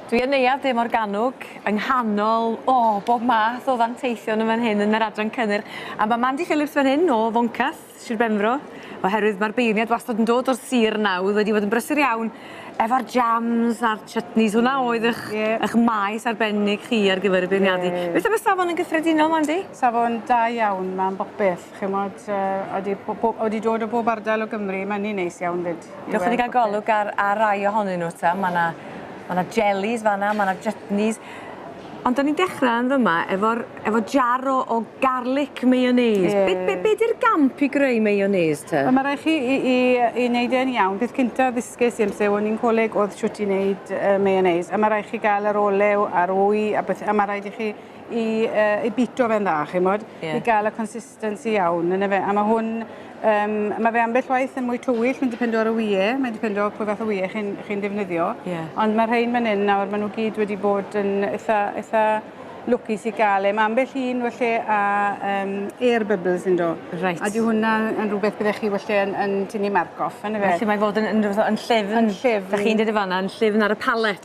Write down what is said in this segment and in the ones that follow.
Dwi yn Neuadd De Morgannwg, yng nghanol, o, bob math o fanteision yn fan hyn yn yr adran cynnyrch. A mae Mandy Phillips fan hyn o Foncas, Sir Benfro, oherwydd mae'r beirniad wastad yn dod o'r sir yna, oedd wedi bod yn brysur iawn efo'r jams a'r chutneys, hwnna oedd eich, eich maes arbennig chi ar gyfer y beirniadu. Beth am y safon yn gyffredinol, Mandy? Safon da iawn, mae'n bopeth. Chimod, odi, odi dod o bob ardal o Gymru, mae'n un neis iawn fyd. Dewch i ni gael golwg ar, ar rai ohonyn nhw ta. Mae yna, mae yna jellies fanna, mae yna jutneys. Ond da ni'n dechrau yn fyma efo'r, efo jar o, o garlic mayonnaise. Ie. Be, be, be di'r gamp i greu mayonnaise ta? Wel, mae rhaid chi i, i, i wneud e'n iawn. Peth cynta ddysges i amser o'n i'n coleg oedd shwt i wneud uh, mayonnaise. A mae rhaid chi gael yr olew a'r wy a beth, a mae rhaid i chi i uh, i bito fe'n dda, chimod, yeah. i gael y consistency iawn, yn efe. A mae hwn, um, mae fe ambell waith yn mwy tywyll, mae'n dipendo ar y wie, mae'n dipendo pwy fath o wie chi'n chi defnyddio. Yeah. Ond mae'r rhain fan hyn nawr, maen nhw gyd wedi bod yn eitha, eitha lwcus i gael e. Mae ambell un felly a um, air bubbles yn do. Right. A di hwnna yn rhywbeth byddech chi felly yn, yn tynnu marc off, yn efe. Felly mae fod yn, yn, yn, yn llefn. Yn llefn. Da chi'n dweud y fanna, yn llefn ar y palet.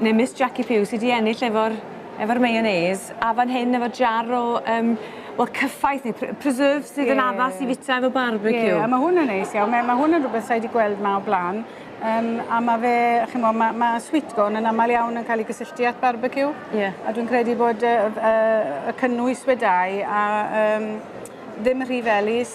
Ne Miss Jackie Pugh sy 'di ennill efo'r efo'r mayonnaise a fan hyn efo jar o yym wel cyffaith ne' pre- preserves sydd... Ie. ...yn addas i fita efo barbeciw. Ie a ma' hwn yn neis iawn me- ma' hwn yn rwbeth sai 'di gweld 'ma o bla'n yym a ma' fe ch'mo' ma' ma' sweet corn yn amal iawn yn ca'l 'i gysylltu â'th barbeciw. Ie. A dwi'n credu bod yy yy y cynnwys wed dau a yym ddim rhy felys.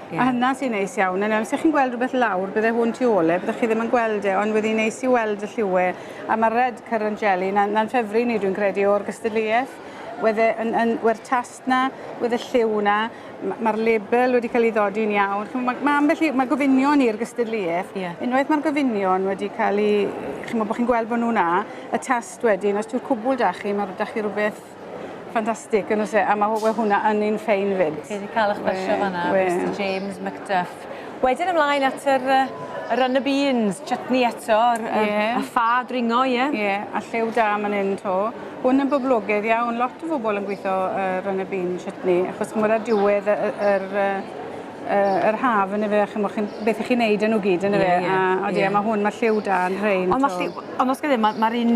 Ie. A hynna sy'n neis iawn. A nawr os 'ych chi'n gweld rwbeth lawr bydde hwn tu ôl e byddech chi ddim yn gweld e ond wedd 'i'n neis i weld y lliwie a ma'r red currant jelly 'na 'na'n ffefri ni dwi'n credu o'r gystadleueth. Wedd e yn yn we'r tast 'na wedd y lliw 'na m- ma'r label wedi ca'l 'i ddodi'n iawn ch'mo' ma' ma' ambell i ma' gofynion i'r gystadleueth. Ie. Unwaith ma'r gofynion wedi ca'l 'u ch'mo' bo' chi'n gweld bo' nw 'na y tast wedyn os dyw'r cwbwl 'da chi ma' r- 'da chi rwbeth Ffantastig, yn oes e? A mae hwnna yn un ffein fyd. Chi wedi cael eich basio fanna, Mr James McDuff. Wedyn ymlaen at yr, uh, yr y beans, chutney eto, yr, yr, yeah. a ffa dringo, ie? Yeah? Ie, yeah. a lliw da man hyn to. Hwn yn boblogaidd iawn, lot o bobl yn gweithio uh, y bean chutney, achos mwyn a diwedd yr, yr, uh, yr haf yn efe, chi'n chi, beth ych chi'n neud yn nhw gyd yn efe, yeah, yeah, a, a, yeah. a mae hwn, mae lliw da yn rhain. Ond mae lliw, ond os gyda, mae'r un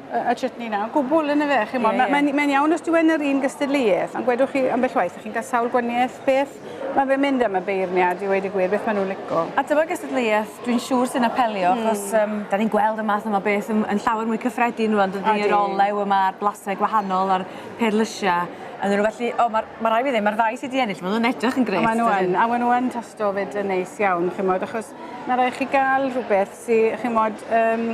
a chutney 'na o gwbwl yn'o fe ch'mod ma' mae'n mae'n iawn os dyw e yn yr un gystadleuaeth ond gwedwch chi ambell waith dych chi'n ca'l sawl gwanieth beth ma' fe'n mynd am y beirniad i weud y gwir beth ma' nw'n lico. A dyma gystadleuaeth dwi'n siŵr sy'n apelio achos yym 'dan ni'n gweld y math yma beth yn yn llawer mwy cyffredin rŵan dydi? Odi. Yr olew yma a'r blase gwahanol a'r perlysie ynddyn nw felly o ma'r ma' rai' fi ddeu' ma'r ddau sy 'di ennill ma' nw'n edrych yn grêt. A ma' n'w yn a we' n'w yn tasto 'fyd yn neis iawn ch'mod achos ma' rai' chi ga'l rhwbeth sy ch'mod yym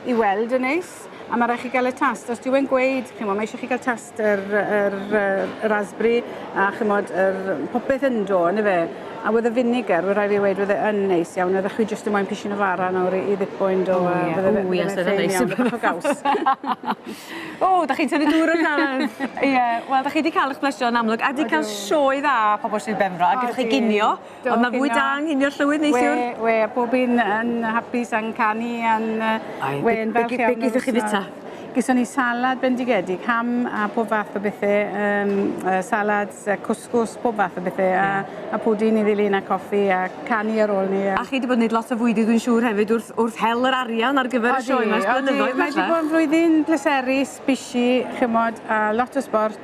i weld yn neis a ma' rai' chi ga'l y tast os dyw e'n gweud ch'mo' ma' isie chi ga'l tast yr yr yy y raspberry a ch'mod yr popeth yndo yndyfe? A wedd y vinegar we' rai' fi weud wedd e yn neis iawn oeddech chwi jyst yn moyn pishyn o fara nawr i i ddipo undo a bydde fe bydde fe'n fyn iawn bach o gaws. O 'dach chi'n tyfu dŵr o dan! Ie wel 'dach chi 'di ca'l 'ych plysio yn amlwg a 'di ca'l sioe dda pobol Sir Benfro a gydwch chi ginio Do, Ond mae fwy da yng Nghinio Llywydd neithiwr. We, we, a bob un yn hapus a'n canu a'n... Ai, we, yn falch iawn. Beth chi fita? Gyson ni salad bendigedig, ham a pob fath o bethau, um, uh, salads, uh, cwsgws, pob fath o bethau, yeah. a, a pwdin i ddilyn a coffi a canu ar ôl ni. A, a chi wedi bod yn gwneud lot o fwyd i dwi'n siŵr hefyd wrth, wrth hel yr arian ar gyfer y sioe yma. Odi, odi, mae wedi bod yn flwyddyn pleserus, busy, chymod, a lot o sport,